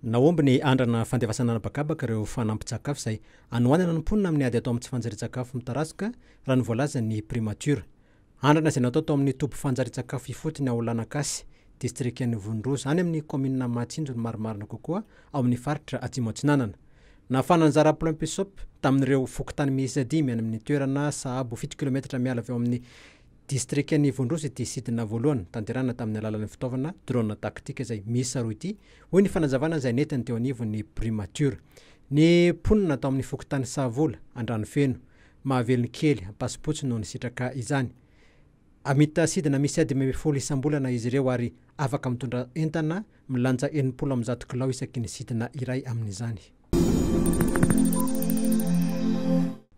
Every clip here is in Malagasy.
Nahomby ny andrana fandefasana an'habakabaka ireo fanampin-tsakafo izay anohanana ny mponina amin'ny ady atao amin'ny tsy fanjarian-tsakafo mitarazoka, raha ny voalazan'ny Primatiora. Andrana izay natao tao amin'ny toby fanjarian-tsakafo ifotony ao Lanakasy, distrikan'i Vonoroza, any amin'ny kaominina Mahatsinjo ny marimarina kokoa ao amin'ny faritra Atsimo Atsinanana. Nafana anjara Plumpysop tamin'ireo fokontany miisa dimy any amin'ny toerana sahabo fito kilometatra miala avy ao amin'ny Distrikan'i Ivondrozy ity sidina voalohany tanterahana tamin'ny alalan'ny fitaovana drone tactique izay miisa roa ity, hoy ny fanazavana izay nentiny teo anivon'ny Primature. Ny mponina tao amin'ny fokontany Sahavola, Andranofeno, Mahavelonkely, Ampasipotsy no nisitraka izany. Hamita sidina miisa dimy ambin'ny folo isam-bolana izy ireo ary afaka mitondra entana milanja enimpolo amby zato kilao isaky ny sidina iray amin'izany.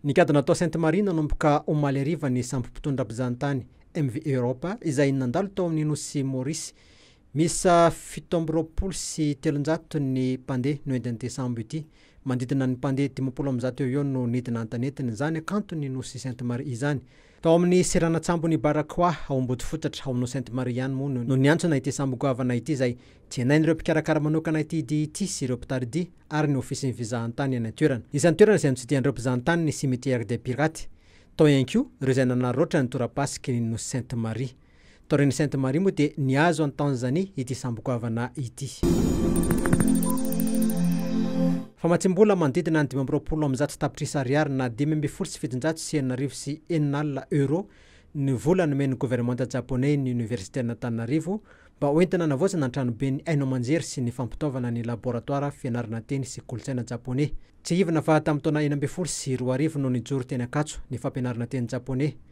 Nikadona tao Sainte Marie nanomboka omaly hariva ny sambo mpitondra mpizahatany MV Europa izay nandalo tao amin'ny nosy Maurice. Miisa fito amby roapolo sy telonjato ny mpandeha noentin'ity sambo ity. Manodidina ny mpandeha dimampolo amby zato eo ho eo no nidina an-tanetiny izany hakanton'ny nosy Sainte Marie izany. Tao amin'ny seranan-tsambon'i Baracoa, ao Ambodifotatra, ao Nocente Maria ihany moa no niantsona ity sambo goavana ity izay jenain'ireo mpikarakara manokana ity dihy ity sy ireo mpitari-dihy ary ny ofisin'ny fizahantany eny an-toerana. Isan'ny toerana izay notsidihan'ireo mpizahantany ny Cimetière des Pirates. Tao ihany koa ireo izay nanararaotra ny tora-pasiky ny Nocente Maria. Taorian'i Sainte Marie moa dia nihazo an'i Tanzanie ity sambokoavana ity. Famatsiam-bola manodidina ny dimy amby roapolo amby zato tapitrisa ariary na dimy ambin'ny folo sy fitonjato sy enina arivo sy enina alina euro ny vola nomen'ny governemanta Japoney ny Oniversiten'Antananarivo mba hoentina hanavaozana ny tranoben'ny haino aman-jery sy ny fampitaovana ny laboratoara fianarana teny sy kolontsaina Japoney. Tsiahivina fa tamin'ny taona enina ambin'ny folo sy roa arivo no nijoro teny Ankatso ny fampianarana teny Japoney.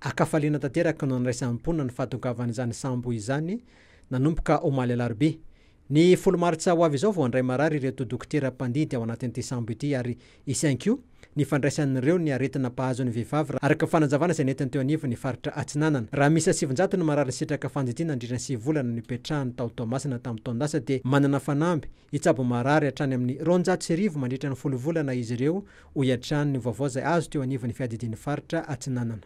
An-kafaliana tanteraka no niraisan'ny mponina ny fahatongavan'izany sambo izany, nanomboka omaly alarobia. Ny folo martsa ho avy izao vao handray marary ireto dokotera mpandidy ao anatin'ity sambo ity ary hisy ihany koa ny fandraisan'ireo ny aretina mpahazo ny vehivavy araka ny fanazavana izay nentiny teo anivon'ny faritra Atsinanana. Raha miisa sivinjato ny marary nisitraka fandidiana nandritra ny sivy volana nipetrahany tao Toamasina tamin'ny taon-dasa dia manana fanamby hitsabo marary hatrany amin'ny roanjato sy arivo mandritra ny folo volana izy ireo hoy hatrany ny vaovao izay azo teo anivon'ny Fiadidian'ny Faritra Atsinanana.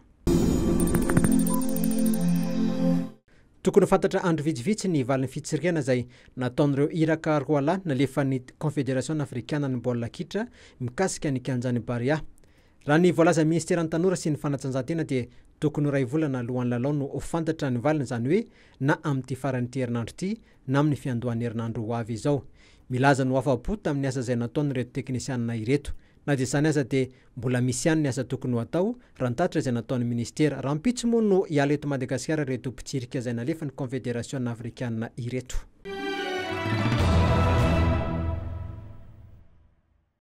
Tokony ho fantatra andro vitsivitsy ny valin'ny fitsirihana izay nataon'ireo iraka roalahy nalefan'ny Konfederasiona Afrikanan'ny Baolina Kitra mikasika ny kianjan'i Barea. Raha ny voalazan'ny Minisiteran'ny Tanora sy ny Fanatanjahantena dia tokony ho iray volana alohan'ny lalao no ho fantatra ny valiny izany hoe na amin'ity faran'ity herinandro ity na amin'ny fiandohan'ny herinandro ho avy izao. Milaza ny ho afa-po tamin'ny asa izay nataon'ireto teknisianina ireto. Na dia izany aza dia mbola misy ihany ny asa tokony ho atao, raha ny tatitra izay nataon'ny minisitera. Rahampitso moa no hiala eto Madagasikara ireto mpitsirika izay nalefan'ny Kaonfederasiona afrikanina ireto.